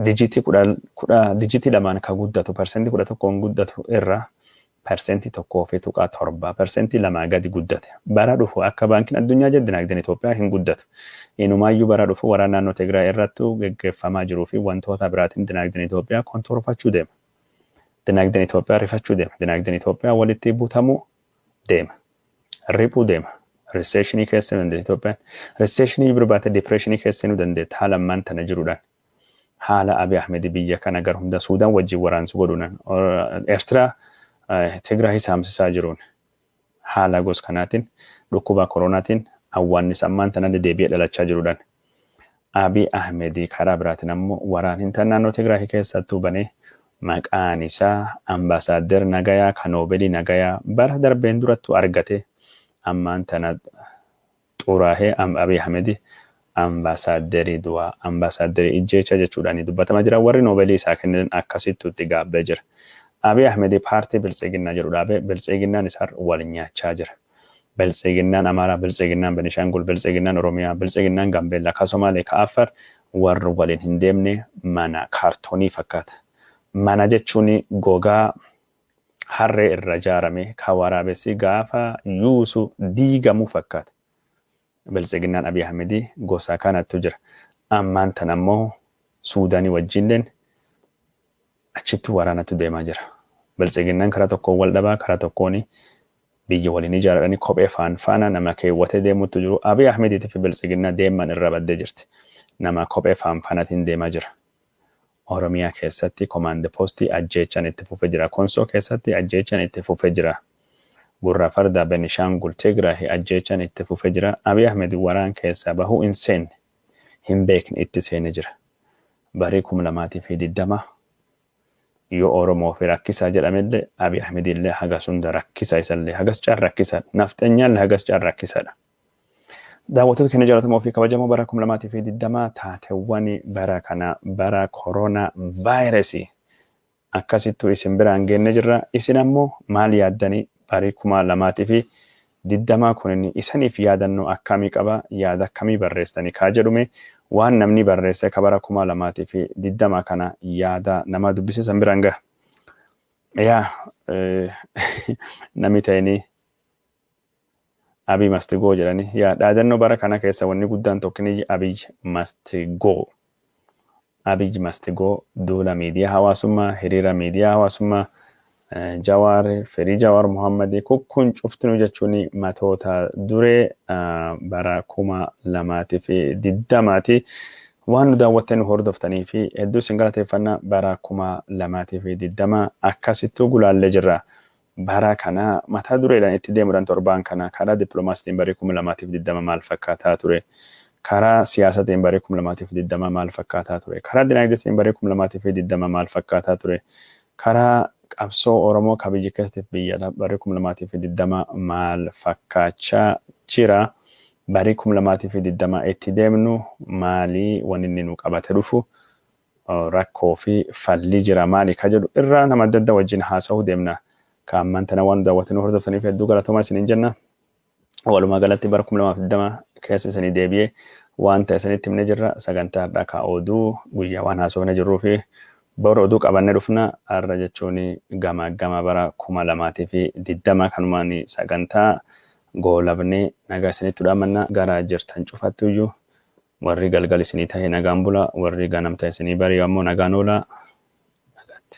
A: dijitii kudhan, kudha, dijitii lamaan ka guddatu persentii kudha tokkoon guddatu irraa persentii tokkoo fi tuqaa torba, persentii lamaa gadi guddate. Bara dhufu akka Baankiin Addunyaa jedhe dinaagdeen Itoophiyaa hin guddatu. Inumaayyuu bara dhufu waraana naannoo Tigraay irrattu geggeeffamaa jiruu fi wantoota biraatiin dinaagdeen Itoophiyaa kontorfachuu deema. Dinaagdeen Itoophiyaa rifachuu deema. Dinaagdeen Itoophiyaa walitti butamuu deema. Riphuu deema. Riseeshinii keessa seenuu dandeetti Itoophiyaan. Riseeshinii bira baatee dipireeshinii keessa seenuu dandeetti haala ammaan tana jiruudhaan. Haala Abiy Ahmed biyya kana gara hunda Suudaan wajjin waraansu godhuudhaan Eertiraa Tigraay saamsisaa jiruun haala gos kanaatiin dhukkubaa koronaatiin awwaannis ammaan tana deebi'ee dhalachaa jiruudhaan. Abiy Ahmed karaa biraatiin ammoo waraan hintan naannoo Tigraayi keessattuu banee maqaan isaa Ambassador Nagayaa ka Noobelii Nagayaa bara darbeen durattuu argate ammaan tana xuraahee Abiy Ahmed Ambassador du'aa, Ambassador ijjeecha jechuudhaan dubbatama jira. Warri Noobelii isaa kennan akkasittuu itti gaabbee jira. Abiy Ahmed paartii Biltsiginnaa jedhu dhaabee Biltsiginnaan isaar wal nyaachaa jira. Biltsiginnaan Amaaraa, Biltsiginnaan Benishaangul, Biltsiginnaan Oromiyaa, Biltsiginnaan Gaambeellaa, ka Somaalee, ka Affar warri waliin hin deemne mana kaartoonii fakkaata. Mana jechuun gogaa harree irra jaarame ka waraabessi gaafa yuusu diigamu fakkaata. Biltsiginnaan Abiy Ahmedii gosa kanattu jira. Ammaan tan ammoo Suudaanii wajjiilleen achitti waraanatu deemaa jira. Biltsiginnaan karaa tokkoon wal dhabaa karaa tokkoon Biyya waliin ijaaradhani kophee faan faana nama keewwatee deemuttu jiru Abiy Ahmeditifi Biltsiginna deemman irra badde jirti. Nama kophee faan fanatiin deema jira. Oromiyaa keessatti Command Post ajjeechan itti fufe jira. Konsoo keessatti ajjeechan itti fufe jira. Gurra Farda, Benishangul, Tigrahi ajjeechan itti fufe jira. Abiy Ahmed waraan keessaa bahuu hin seenne, hin beekne itti seene jira. Barii kum lamaa fi digdama. Yoo Oromoo fi rakkisaa jedhamelle Abiy Ahmedille hagas hunda rakkisa isallee hagas caal rakkisa dha. Nafxenyaalle hagas caal rakkisa dha. Daawwattoota keenya jaalatamoo fi kabajamoo bara 2020 taatewwan bara kana bara korona vaayiresi akkasittuu isin biraan geenne jirra. Isin ammoo maal yaaddanii barii 2000 fi digdamaa kunini isanif yaadannoo akkaamii qaba yaada akkamii barreessitani kaa jedhu mee waan namnii barreessee ka bara kumaa lamaatii fi digdamaa kana yaada namaa dubbisee san biraan gaha yaa nami ta'ini abiy must go jedhani yaa dhaadannoo bara kana keessa wanni guddaan tokkini abiy must go Abiy must go Duula miidiyaa hawaasummaa, hiriira miidiyaa hawaasummaa, Jawaar, firii Jawaar Mohammed ku kun cuftinuu jechuun matoota duree bara 2020 ti. Waan nu daawwattee nu hordoftanii fi hedduu isin galateeffanna bara 2020 akkasittuu gulaallee jirra. bara kanaa mata dureedhaan itti deemuudhaan torbaan kana karaa diplomaasitiin barri 2020 maal fakkaataa ture? Karaa siyaasatiin barri 2020 maal fakkaataa ture? Karaa dinaagdeetiin barri 2020 maal fakkaataa ture? Karaa qabsoo Oromoo ka biyya keessatiif biyya ala barri 2020 maal fakkaachaa jira? Barri 2020 itti deemnu maali waninni nu qabate dhufu? rakkoo fi falli jira maali ka jedhu irraa nama adda adda wajjin haasa'uu deemna. Ka ammaan tana waan nu daawwattee nu hordoftaniif hedduu galatoomaa isiniin jenna. Walumaa galatti bara 2020 keessa isinii deebi'ee waan ta'e isinitti himne jirra. Sagantaa har'aa ka oduu guyyaa waan haasofne jirruu fi bor oduu qabannee dhufna. Har'a jechuun gamaaggama bara 2020 kanumaan sagantaa goolabnee nagaa isinitti dhaamanna gara jirtan cufattuyyuu Warri galgal isinii tahe nagaan bulaa, warri ganam tahe isinii bari'u ammoo nagaan oolaa. Nagaatti.